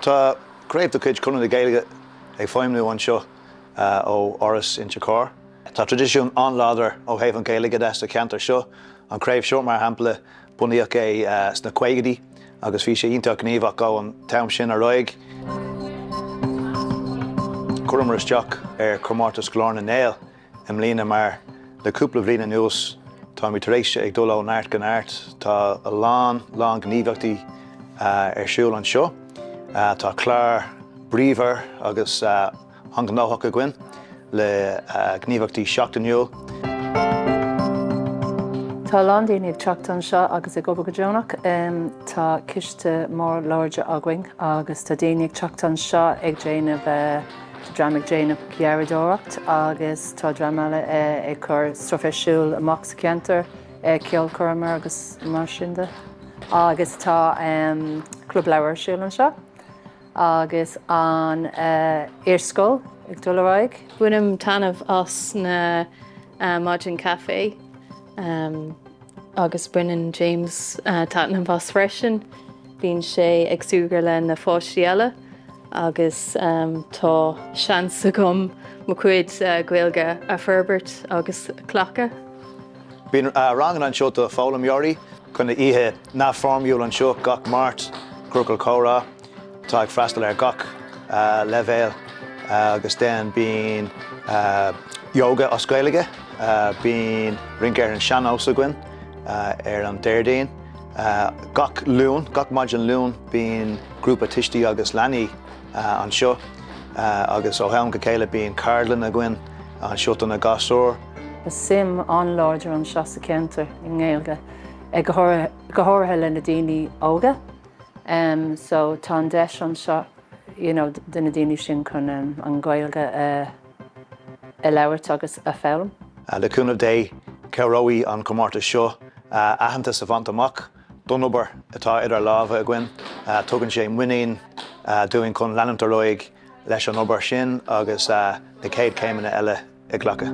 Tá craobh de chuid Chonradh na Gaeilge ag feidhmniú anseo ó Áras Inse Chór. Tá traidisiún an-láidir ó thaobh an Ghaeilge de sa cheantar seo. An craobh seo, mar shampla, bunaíodh é sna caogaidí agus bhí sé iontach gníomhach ón am sin ar aghaidh. Chuireamar isteach ar chomórtas Ghlór na nGael. i mbliana mar le cúpla bhliain anuas táimid tar éis ag dul ó neart go neart. Tá a lán, lán gníomhaíochtaí ar siúl anseo. Tá clár bríomhar agus an-ghnóthach againn le gníomhaíochtaí seachtainiúil. Tá a lán daoine ag teacht anseo agus ag obair go deonach. Tá coiste mór láidir againn agus tá daoine ag teacht anseo ag déanamh. Tá dream ag déanamh garraíodóireacht agus tá dream eile ag cur stuif ar siúl amach sa cheantar, ceolchoirmeacha agus mar sin de. Agus tá club leabhar ar siúl anseo agus an iarscoil ag dul ar aghaidh. Bainim taitneamh as na maidin caife agus baineann James taitneamh as freisin. Bíonn sé ag súgradh le na páistí eile. agus tá seans agam mo chuid Gaeilge a fhorbairt agus a chleachtadh. Bíonn ranganna anseo do foghlaimeoirí bíonn oíche neamhfhoirmiúil anseo gach Máirt, Ciorcal Comhrá atá ag freastal ar gach leibhéal agus then bíonn Yoga as Gaeilge, bíonn rince ar an sean-nós againn ar an Déardaoin, Gach Luan, gach maidin Luain, bíonn grúpa tuismitheoirí agus leanaí anseo agus ó am go chéile bíonn ceardlann againn anseo do na gasúir. Tá suim an-láidir anseo sa cheantar i nGaeilge, go háirithe le na daoine óga so tá an deis anseo you know do na daoine sin chun an Ghaeilge a a labhairt agus a foghlaim. Le cúnamh Dé, cabhróidh an comórtas seo aitheantas a bhaint amach don obair atá idir lámha againn. Tugann sé muinín dúinn chun leanúint ar aghaidh leis an obair sin agus na chéad chéimeanna eile a ghlacadh.